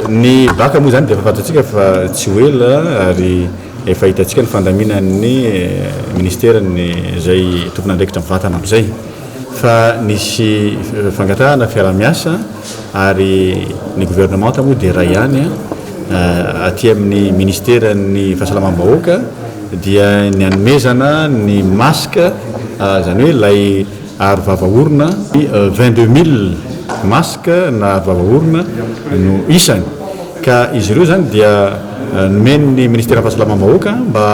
ny baka moa zany dia fafantatsika fa tsy ho ela ary efa hitantsika ny fandaminan'ny eh, ministerany zay tompon'andraikitra mivatana amizay fa nisy fangatahana fiaramiasa ary ny governemanta moa dia iray ihany aty amin'ny ministeran'ny fahasalamam-bahoaka dia ny hanomezana ny masque izany hoe ilay aro vava orona vingt deux mille masque na aro vava orona no isany ka izy ireo izany dia nomen'ny ministeran'ny fahasalamam-bahoaka mba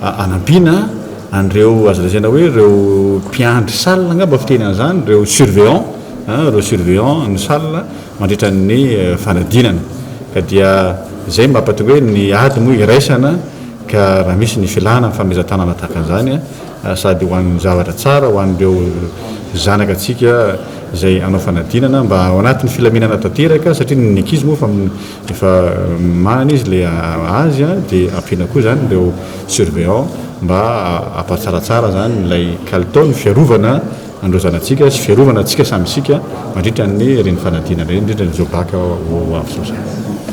hanampiana an'ireo azo lazaina hoe ireo mpiandry salle angamba fiteny an'izany, ireo surveillant an, ireo surveillant ny salle mandritra ny fanadinana. Ka dia izay no mahatonga hoe ny ady moa iraisana ka raha misy ny filana ny famelazatanana tahaka an'izany an, sady ho an'ny zavatra tsara, ho an'ireo zanakatsika izay hanao fanadinana mba ao anatin'ny filaminana tanteraka satria ny ankizy moa efa. Rehefa marina izy le azy de ampiana koa zany ireo surveillant mba hampatsaratsara zany ilay kalitao ny fiarovana an'ireo zanatsika sy fiarovana antsika samy isika mandritra ny ireny fanadinana ireny indrindra ny zobacc ho avy zao zany.